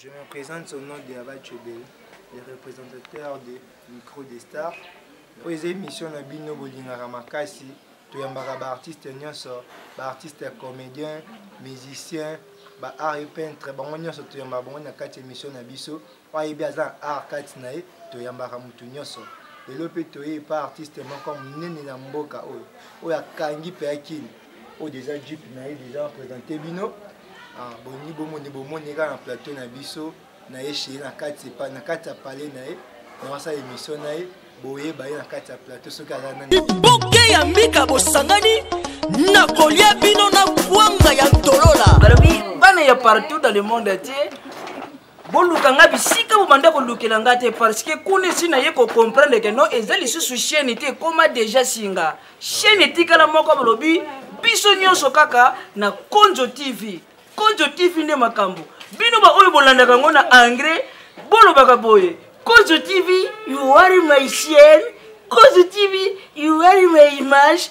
Je me présente au nom de Abba Chebel, le représentateur de Micro des Stars. oyo eza émission na bino bolingaka makasi toyambaka baartiste nyonso baartiste comédien musicien baart e peintre bango nyonso toyambaka bango na kati ya émission na biso oyo ayebi aza na art kati na ye toyambaka motu nyonso lelo mpe toye epa artiste moko monene na mboka oyo oyo akangi mpe akini oyo deja jeep na ye deja bapresente bino ah, bolingi bomoni bomoni kaka na plateau na biso na ye cheye na kati na kati ya palais na ye na basala émission na ye boyeba ye na kati ya plateau soki aza nani boke ya mbika bosangani na kolia bino na kwanga ya ntolola balobi bana ya partout dans le monde atie boluka nga bisika bobanda kolukela nga te parce que kuna esi naye kocomprendre ke non eza lisusu chaine te ekoma deja singa chaine etikala moko bolobi biso nyonso kaka na konzo tv konzo tv nde makambo bino baoyo bolandaka yango na engrais bolobaka boye konzo tv you are my chaine konzo tv you are my image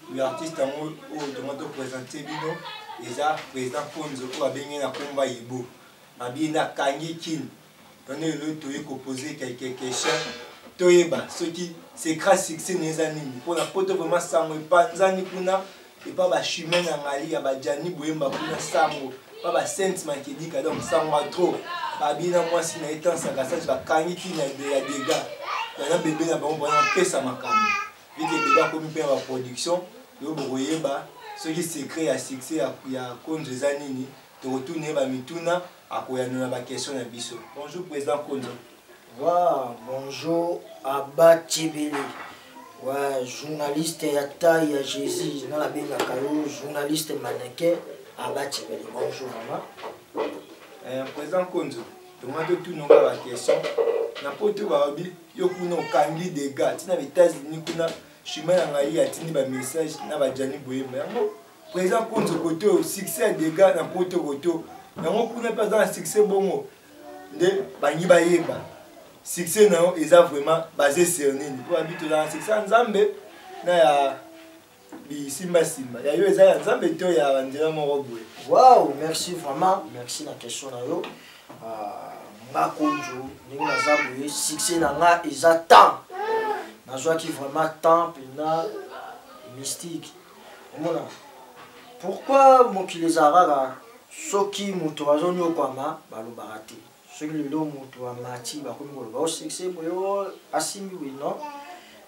oyo artiste yango oyo tongo to présente bino eza président konzo oyo abengi na komba yibo babiye nde akangi kini wana eloi toye kopose quelque question toyeba soki secret succès na eza nini mpona poto vraimen sango epanzani kuna epa bachumain na ngali ya bajani boyemba kuna sango pa basainte makedika donc sango ya trop babiye na mwasi na ye tansaka sage bakangi kini ya dega wana bebe na bango mpona mpesa makambo Vu que Bebe akomi mpe na ba production, lelo bokoyeba soki secret ya succès ya, ya Konzo eza nini. Tokotuna ye ba mituna, akoyanola ba questions na biso. Bonjour President Konzo. Waa bonjour Abba Tshebele. Waa journaliste ya taille ya Jesus, nga nabengaka yo journaliste mannequin Abba Tshebele. Bonjour vraiment. Eh, President Konzo, tomati otuna nga ba questions. Na poto balobi yo kuna okangi dega ntina na états-unis kuna chemin na ngai atindi bamessage na bajani boyemba yango président konzo koto succès ya dega na poto koto yango kuna mpe aza na succès bongo nde bangi bayeba succès na yo eza vraiment base sur nini mpo babi tozala na succès ya nzambe na ya bisimbasimba ya yo eza ya nzambe to ya banzela moko boye wow merci vraiment merci na question na yo ah, nga konjo ndenge naza boye succès na nga eza temps nazwaki vraiment temps mpena mystique omona pourquoi mokili eza kaka soki moto azonyokwama balobaka te soki lelo moto amati bakomi koloba osekse oh, boye oh, asimbi boye non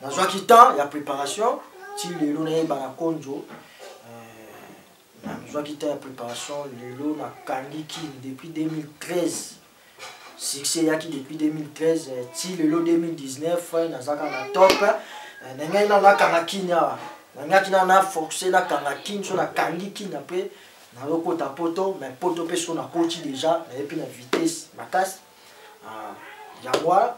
nazwaki temps ya préparation ti lelo nayeba na konjo euh, nazwaki temps ya préparation lelo nakangi kin depuis 2013 succès eyaki depuis 2013 euh, ti lelo 2019 euh, nazaka na top na ngai nano nakanga kin awa nangaki nano na force nakanga kin so nakangi kin apres nazo kota poto mais poto mpe sikoyo nakoti deja naye mpe na vitesse makasi ah, yango wana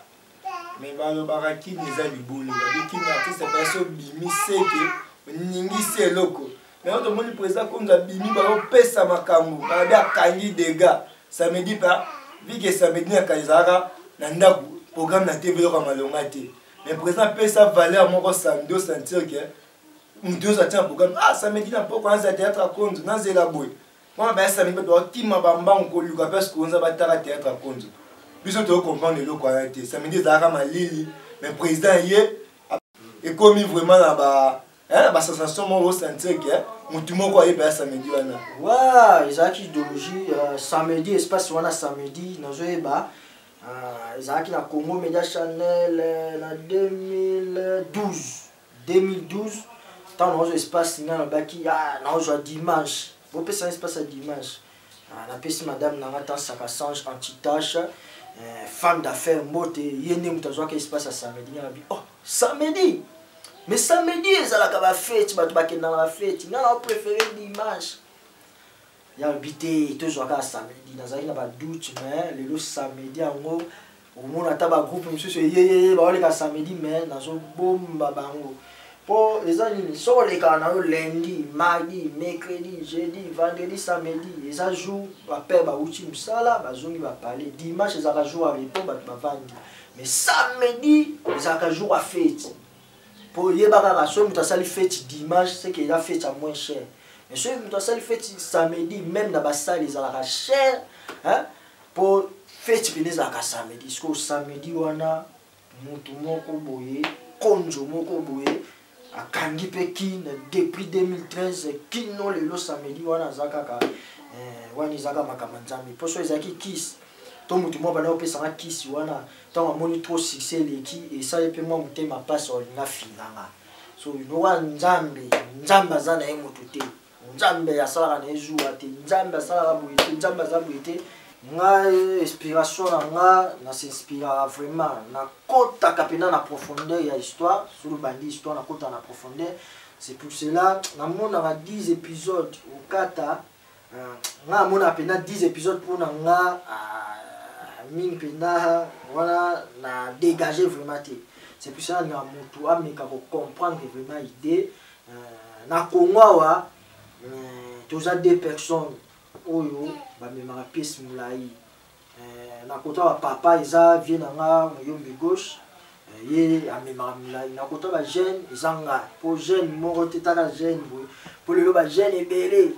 me balobaka kini eza libulu babi kini artiste pasi obimi seke oningisi eloko me oyo tomoni président konzo abimi baopesa makambo babi akangi dega samedi pa vike samedi na kani ezalaka na ndako programme na tv eloko ya malonga te me président apesa valeur moko sando sentir ke moto nyonso atia programme ah samedi na mpoko nazela théâtre ya konzo nazela boye wana baya samedi bato bakima bambango koluka place konza batala théâtre ya konzo biso toyo comprendre eloko wana te samedi ezalaka malili mais président ye ekomi vraiment na ba eh, basensation moko osentir ke motu moko ayeba ya samedi wana wa ezalaki idéologie euh, samedi espace wana samedi nazoyeba euh, ezalaki na congo media chanel euh, na 2012 2012 ntango naozwa espace nga nabaki ah, naozwa dimanche bopesa espace ya dimanche ah, napesi madame na nga tansaka sange antitache eh, femme d'affaire mbote ye nde moto azwaka espace ya samedi nga nabi oh samedi mais samedi ezalaka bafeti bato bakendaka bafeti nga nao préféré dimanche yalobi te tozwaka samedi nazalaki na badoute mais lelo samedi yango omona ata bagroupe mosusu eyeyeye baoleka samedi mai nazobomba bango mpo eza nini soko olekaka na yo lundi mardi mercredi jeudi vendredi samedi eza jour bapere bauti mosala bazongi bapale dimanche ezalaka jour ya repo bato bavandi mais samedi ezalaka jour ya feti mpo oyeba kaka soki moto asali feti dimanche seke eza feti ya moins cher mais soki moto asali feti samedi meme na basale ezalaka cher hein? po feti pene ezalaka samedi sikoyo samedi wana mutu moko boye konzo moko boye akangi mpe kin depuis 2013 kino lelo samedi wana aza kaka eh, wana eza kaka makambo ya nzambe mpo so ezalaki kisi to motu moko banda kopesanga kisi wana ntango amoni trop succès eleki esali mpe mwa motema mpasi olinga finanga so nowa nzambe nzambe aza na ye moto te nzambe asalaka na ye zuwa te nzambe asalaka boye te nzambe aza boye te ngai inspiration na nga na s'inspiraka vraiment nakotaka mpenza na profondeur ya histoire soki obandi histoire nakotaka na profondeur c'est pour cela namonaka 10 épisode okata euh, nga amonaka mpenza 10 épisode mpo na nga euh, mingi mpenza wana na dégage vraiment te c'est pour cela na motu ameka kocomprendre vraiment idée na congo awa eh, toza deux personnes oyo bamemaka pièce molai eh, na kota ba papa eza vie na nga moyombi gauche eh, ye amemaka molai na kota ba jeune eza nga mpo jeune moko te taka jeune boye mpo lelo ba jeune ebele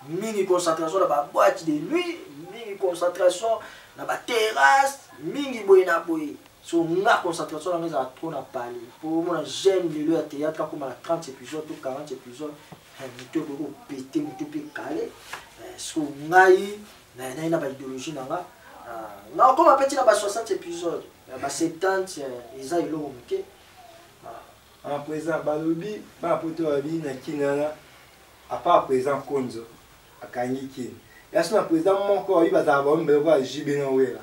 mingi concentration na ba boite de nuit mingi concentration na ba terrasse mingi boye na boye so nga concentration nanga ezala trop na pale po omona jeune lelo ya théâtre akoma na 30 épisode to 40 épisode eh, moto ekoki kopete moto mpe kale eh, so ngai nayanai na baidéologie na nga ah, nga okoma mpe ntina ba 60 épisode ba 70 eh, eza eloko moke ah. en présent balobi bapoto balobi na kinana apart présent konzo akangi kini ya so na présent moko babi bazala baomi beloko ya jb na wela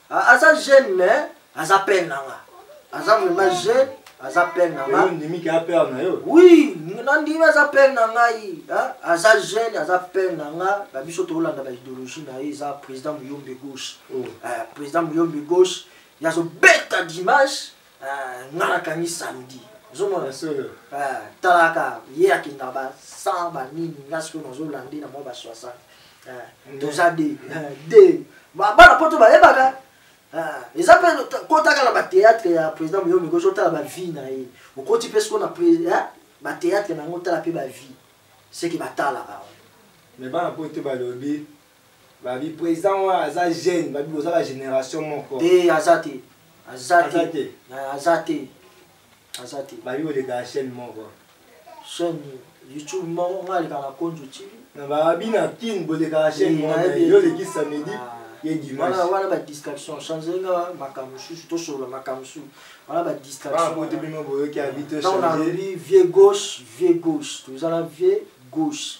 aza jeune mais aza pene na nga aza vraiment jeune aza pene na nga ondimiki ya pere na yo oui nandimi aza pere na ngai aza jeune aza pere na nga na biso tokolanda baideologie na ye eza président muyombe gauche oh. eh, président muyombe gauche ye azobeta dimanche Ah, nga nakangi samedi ozomona ah, talaka ye akenda ba 100 banini nga sikoyo nazolande na mwa ba 60 ah, toza de de bana poto bayebaka eza mpe kotaka na bateatre ya président moyomi koki otala bavie na ye okoti mpe sikoyo na bateatre na yango otala mpe bavie seke batalaka me bana poto balobi Babi president wana aza jeune, babi boza ba generation moko. Te aza te. Aza te. Aza te. Aza te. Babi boleka chaîne moko. Chaîne YouTube moko nga leka na compte YouTube. Na babi na kin boleka chaîne moko. Yo leki samedi. Ah. ye dimanche wana ba distraction change nga makambo mosusu tosolola makambo mosusu wana ba distractionbote bino boyoki abi tochangelobi vieux gauche vieux gauche toza na vieux gauche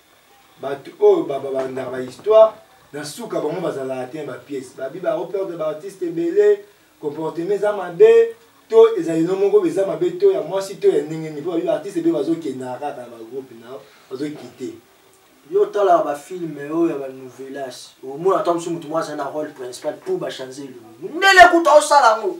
bato oyo babandaka bahistoire na suka bango bazalaka te ba pièce babi baoperde baartiste ebele comportement eza mabe to ezali no moko eza mabe to ya mwasi to ya ndenge nini mpo babi baartiste ebele bazokendaka kaka na bagroupe na bazokite yo otalaka bafilme oyo ya banouvelas omona ata mosusu motu mwa azali na role principal mpo bachanze elongi mundele kuta osala yango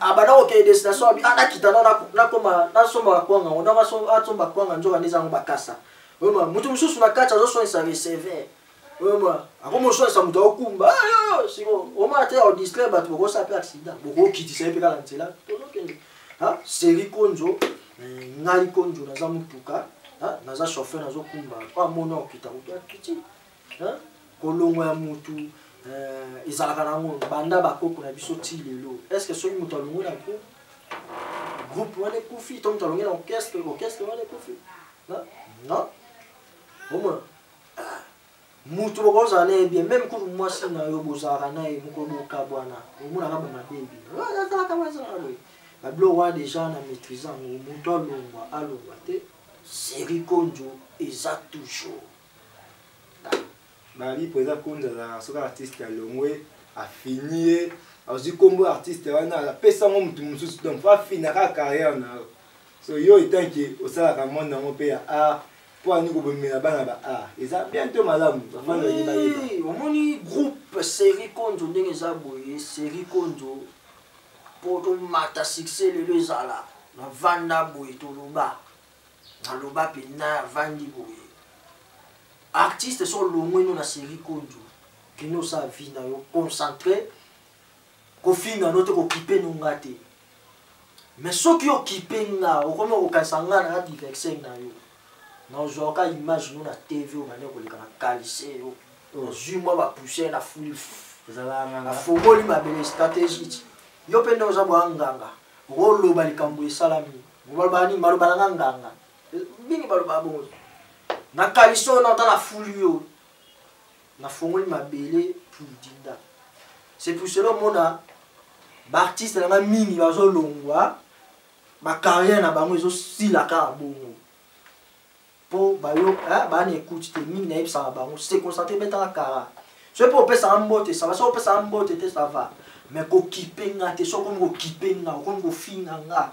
abanda kokende destination abi nakita na nakoma nasomba bakwanga ngo donc asomba bakwanga nzoka nde ezango bakasa oyoma moto mosusu na kati azoswanisa receveur oyoma akoma oswanisa moto aokumba siko omona te odistre bato bokosa mpe accident bokokitisa ye mpe kaka nzela tozokende seri konzo eh, ngai konzo naza motuka naza chauffeur nazokumba mpo amona okita kutu akiti hein? kolongwa ya mutu euh, ezalaka nango banda bakoko na biso ti lelo est ce que soki moto alongwe na groupe groupe wana ekufi to moto alongwe na orchestre orchestre wana ekufi non omona ah, moto bokozala na ye bien meme kutu mwasi na yo bozalaka na ye moko bokabwana omonaka bamabe ebino azalaka azalaka boye babilo wana deja na maîtrise yango moto alongwa alongwa te serikondjo eza toujours Bali po eza konza azalaka soki artiste alongwe afini ye azwi nkombo artiste wana apesa yango motu mosusu donc fo afina kaka carrière na yo so yo etant ke osalaka monde yango mpe ya art mpo ani kobomela bana ba art eza bien to malamu omoni groupe série konzo ndenge eza boye série konzo mpo tomata succès lelo ezala na vanda boye toloba naloba mpenza avandi boye artiste so olongwe no na série kondu kende osala vie na yo concentre kofinga no te kokipe no nga te mais soki okipe nga okomi okokanisa nga na adiverse na yo nazwaka image no na tv obande koleka na kalise yo ozwi mwa bapoussière na fuli afongoli mabele stratégie yo mpe nde oza bwa nganga okoloba likambo esalami Maloba nini? Maloba na nga nganga. Mingi maloba bongo. Na kaliso na otala fulu yo. Na fongoli mabele pour dinda. C'est pour cela mona baartiste na nga mingi bazolongwa bacarrière na bango ezosilaka na bongo po bayo eh, baa na écoute te mingi nayebisaka bango se concentre betaka kara soki mpe opesaka mbote sava soki opesaka mbote te sava mais kokipe nga te soki okomi kokipe nga okomi kofinga nga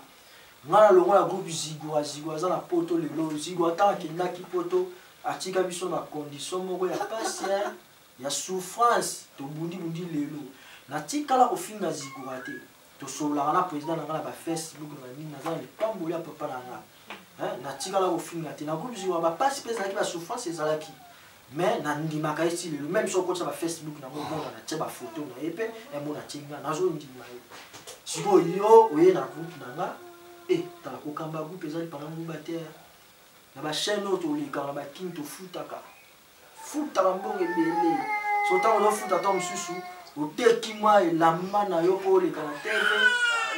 nga na longo ya groupe zigua zigua aza na poto lelo zigua ntango akendaki poto atika biso na condition moko ya pasi ya souffrance tobundibundi lelo natikala kofinga zigua te tosololaka na président na nga na ba facebook na nini naza na lipamboli ya papa na nga natikala kofinga te na groupe ziwa bapasi mpe ezalaki basouffrance ezalaki mais nandimaka ye ti lelo meme soki okotisa bafacebook nango omona natye bafoto na ye mpe emona eh, tye nga nazondima ye sikoyo yo oye na groupe na nga e eh, tala kokamba groupe ezali panga nguba te na bachaine oyo tolekaka bakini tofutaka futa ba mbongo ebele so ntango ozofuta ntango mosusu oteki mwa elamba na yo mpo oleka na tv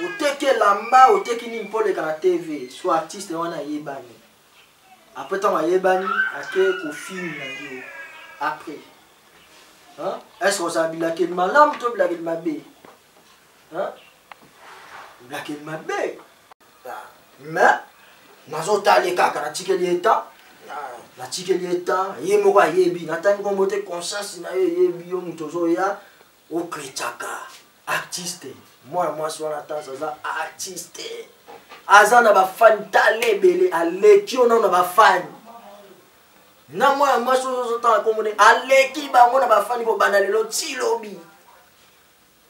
oteki elamba oteki nini mpo oleka na tv so artiste wana ayebani apres ntango ayebani ake kofini na yo apres est ce ozala bilakeli malamu to bilakeli mabe Hein? Black est ma belle. Ah, mais, nazotali kaka natikeli ye temps ah, natikeli ye temps ye moko ayebi natangi kombo te conscience na ye eyebi yo moto ozoya okretaka artiste mwana mwasi wana tanso aza artiste aza na bafani tala ebele aleki yo nao na bafani na mwana mwasi oyo ozotanga kombo nde aleki bango na bafani kobanda lelo ti lobi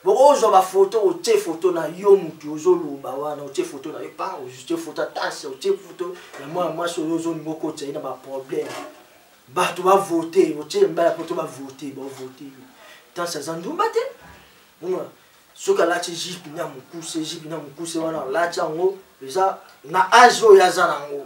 bokozwa bafoto otie foto na yo motu ozoloba wana otie foto na yo pa otie foto ya tase otie foto ya mwana mwasi oyo ozolinga okotisa ye na baproblème bato bavote otie mbala poto bavote bavote yo tase aza ndumba te omona soki alati jipe na mokuse jipe na mokuse wana alati yango eza na age oyo aza na yango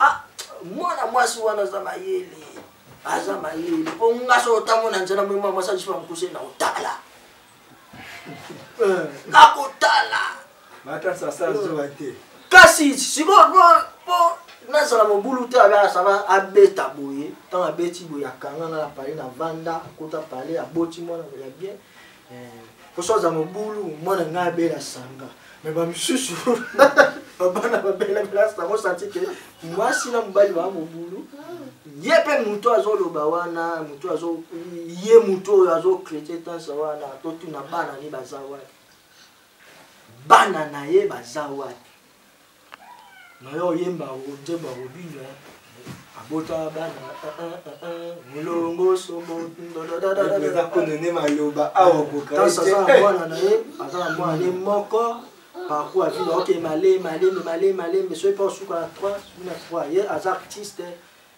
ah, mwana mwasi wana aza mayele aza mayele mpo nga so otango na nzela moyema mwasi ajipa mokuse na otala eh. nakotala eh. kasi sikoyo mpo nazala mobulu te abasaba abeta boye ntango abeti boye akanga nga na pale na vanda akota pale aboti mwana ya bien kosoza mobulu mwana ngai abela sanga me bamisusu babana babelabela sango santi ke mwasi na mobali baa mobulu ye mpe moto azoloba wana moto azo ye moto oyo azocrete tansa wana totuna bana ni baza wapi bana na ye baza wapi nayo oyemba nzembo ya robino eh. abota bana eh, eh, molongo soboeza konene maloba aokokaana na ye aza na mwana ye moko parcours avile oke malembe malembe malembe malembe soki mpe osuka na 3 na 3 ye aza artiste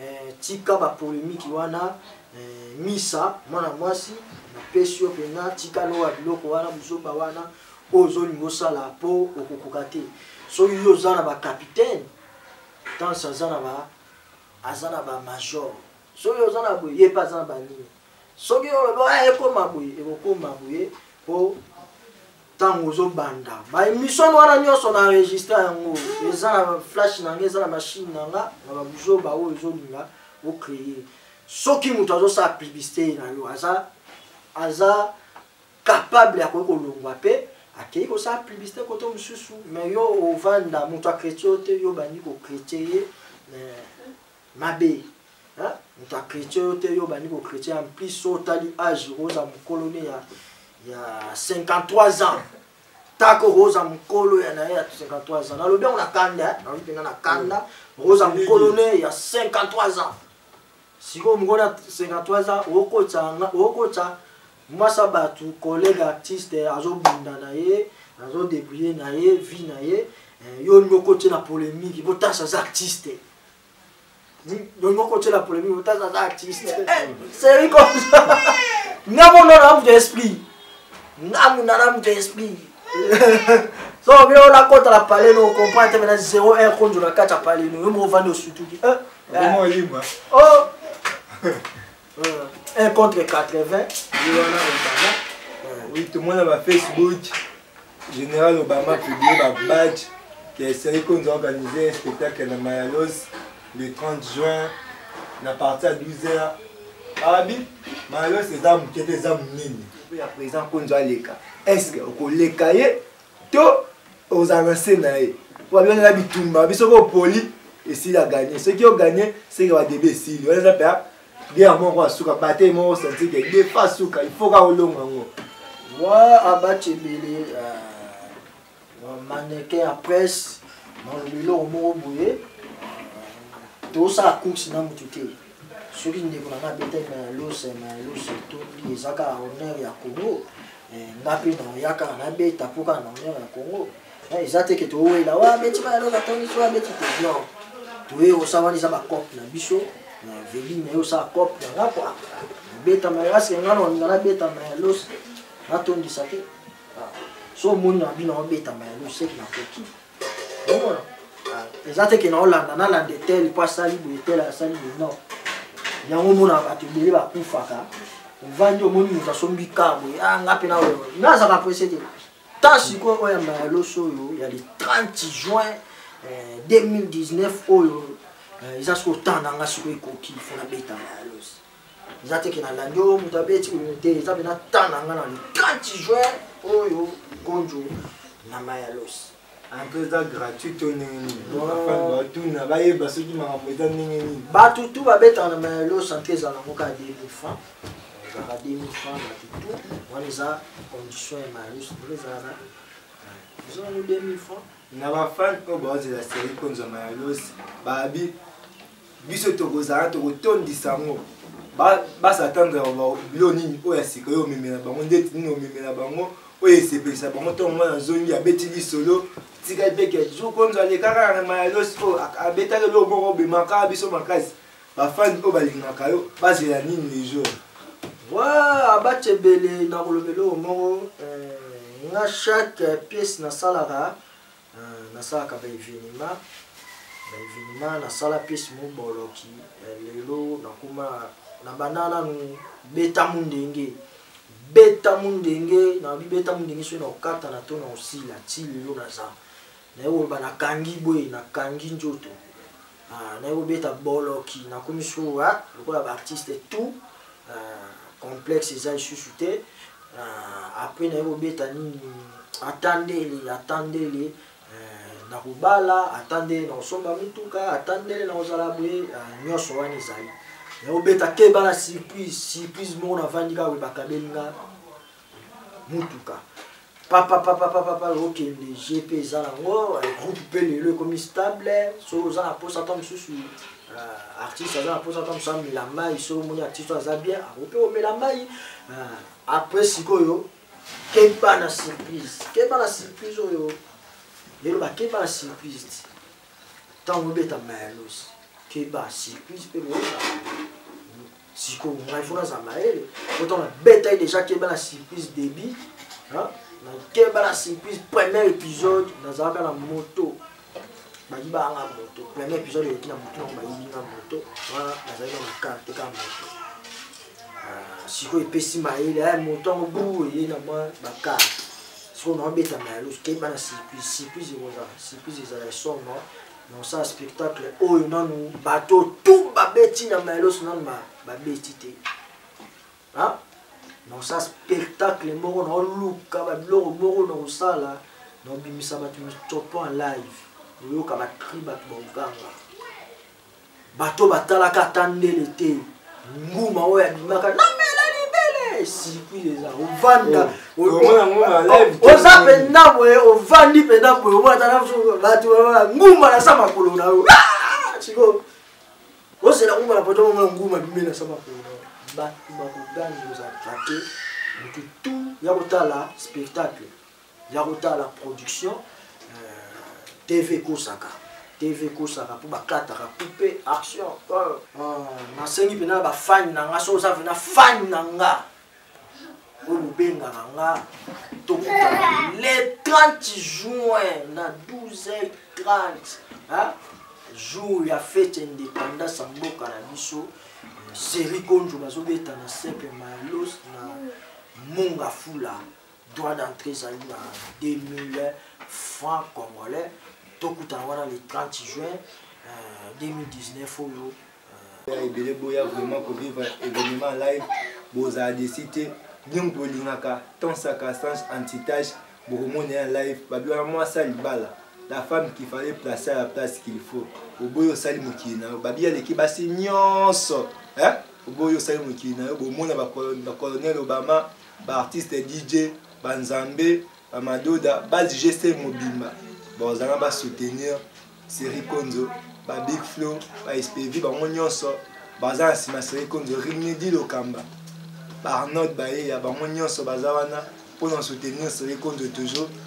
Eh, tika ba polemique wana eh, misa mwana mwasi napesi yo mpenza tika lowa biloko wana buzoba wana oyo ozolinga osala mpo okokoka te soki yo oza na bacapitaine tanse aza na ba aza na bamajor soki oza na boye ye mpe aza na banini soki olobi oyo ah, ekoma boye ekokoma boye mpo ntango ozobanda baemission wana nyonso na enregistre yango eza na flash na nga eza na mashine na nga na babuzoba oyo ezolinga ocreye soki moto azosala publicité na yo aza aza capable ya koki kolongwa mpe akei kosala publicité kote mosusu me yo ovanda moto akretye yo te yo obandi kokretye ye mabe hein mutu a chrétien yo te yo obandi ko chrétien en plus so otali age oza mokolo ne ya ya 53 ans tako oza mokolo ya naye ya 53 ans nalobi yango na kanda eh? nalobi mpenza na kanda oza mokolo ne ya 53 ans sikoyo mokolo ya 53 ans okokotisa mwasi ya bato collègue artiste azobunda na ye azodebrouille na ye vie na ye eh, yo nyoko te na polémique botasa aza artiste dongo kotyela polemique otaza aza artiste seri komsa ngambo ndo na moto esprit ngambo na na moto esprit so bino ona kota na pale no comprendre te mena 0 1 konzo na kati ya pale no yo moko ovandi osutuki eh, eh. o 1 contre 80 ye wana obama oui tomona ba facebook général obama publie ba badge ke esali konza organise un spectacle na mayalos le 30 juin na parti ya 12 heures abi mayalos eza moke te eza monene ya président konzo aleka est ce que okoleka ye to ozala na se na ye po babengana na bitumba biso ko poli esili aganye soki oganye seke badebe esili wana eza mpe guerre moko asuka bataille moko osanti ke defa asuka ifo kaka olonga yango wa abaci ebele euh, mannequin ya presse maloba eloko moko boye euh, tosala course na motu te soki ndeko na ngai abetaki na lose na lose etondi eza kaka honneur ya congo eh, nga mpe naya kaka nabeta mpo kaka na honneur ya congo eh, eza te ke towela wa abeti ma ya lose atondi so abeti te non toye osa wana eza bacope na biso na veli na ye osala cope na nga kua nabeta ma yase nga nalinga nabeta ma ya lose natondisa te ah, so omoni na bino obeta ma ya lose seki nakoki eza te ke naolanda nalanda etel mpo asali boye etel asali boye non yango omonaka bato ebele bakufaka ovandi omoni moto asombi ka boye a ah, nga mpe naoyo nga azaka prese te ta sikoyo oyo ya mbala loso oyo ya le 30 juin 2019 eh, oyo eh, eza sikoyo temps na nga sikoyo ekoki fona beta mbala loso eza te ke nalandi oyo moto abeti oyo te eza mpena temps na nga na le 30 juin oyo gonjo na mayalos antre eza gratuit to ndenge nini batuna bayeba soki makambo eza ndenge nini bato tu babetaka na mayalos antre eza nango kaka 2000 franc ezalaka 2000 franc bato tu wana eza condition ya mayalos ndenge ezalaka eza nango 2000 franc na bafan oyo baozela seri konzwa mayalos babi biso tokozala tokotondisa yango basatanda ya bilo nini oyo ya sika oyo omemela bango ndeti nini omemela bango oyo esepelisa bango ntongo mwana azongi abeti lisolo tika epeke zukonzo alekaka na mayalos oyo abetaki eloko moko obemaka biso makasi bafani oyo balingaka yo bazela nini lejour wa abacha ebele nakoloba eloko moko eh, nga chaque pièce nasalaka Euh, nasalaka ba evenema ba evenema nasala piece moboloki euh, lelo nakoma na banda nanu beta mundenge beta mundenge na bibeta mundenge soki na okatana to na osila ti lelo naza naye koloba nakangi boye nakangi nzoto Ah, naye kobeta boloki nakomi suwa ah, lokola baartiste tout ah, complexe eza lisusu te après naye kobeta nini atandele atandele eh, nakobala atandele nakosomba mituka atandele nakozala boye nyonso wana ezali naye kobeta keba na surprise surprise moko navandi kaka boye bakabeli nga motuka papapapapapa okende je mpe eza nango groupe mpe lelo ekomi stable so oza na mposa ata mosusu euh, artiste aza na mposa ata mosusu amela mai so omoni artiste oyo aza bien ako mpe omela mai euh, après sikoyo keba na surprise keba na surprise oyo lelo bakeba na surprise ti ntango obeta mayalos keba surprise mpe boyeba siko ngai fona za mayele autant na beta ye déjà keba na surprise début hein na keba na surprise premier épisode nazalaka na moto bayi banga moto premier épisode eleki na moto nango bayibi nga moto wana nazali na makarte ka moto ah, sikoyo epesi mayele aya moto yango bu eye na mwa bakarte sikoyo naobeta mayele keba na surprise surprise ekozala surprise ezala esomba na kosala spectacle oyo nanu bato tu babeti na maelos nanu babeti te na kosala spectacle moko na oluka babiloko moko na kosala na kobimisa bato mitsopo en live oyoka bacri bato baoganga bato batalaka ata ndele te nguma oyo abimaka namela libele circuit eza ovanda oh, oh, oza mpenza boye ovandi mpenza boye omona ata bato nguma na sa makolo na yo ah! sikoyo ozela nguma na poto omona nguma bimeli na sa makolo na yo bato bakogani ozalaka te motu tu ya kotala spectacle ya kotala production euh, tv kosaka tv kosaka mpo bakataka coupe action euh. ah, nasengi mpena na bafani na nga so oza mpena fani na nga oyo bobengaka nga tokutana le 30 juin na 12 30 jour ya fete indépendance ya mboka na biso seri konjo bazobeta na sepe malos na munga fula droit d'entrée ezali na 2000 francs congolais tokutana wana le 30 juin euh, 2019 oyo euh, ebele boya vraiment kovivre événement live bozala desi te bino moto bolingaka temps circonstance antitache bokomona ya live babi wana mwasi ya libala la femme qui fallait placer à la place qu'il faut oboyi osali mokili na yo babi aleki basi nyonso oboyi osali mokili na yo bomona bacolonel obama ba artiste DJ ba nzambe ba madoda ba GST mobimba bazanga ba soutenir Seri Konzo ba Big Flow ba SPV bango nyonso baza na sima Seri Konzo Rimedi Lokamba ba Arnold Bayeya bango nyonso baza wana mpo na soutenir Seri Konzo toujours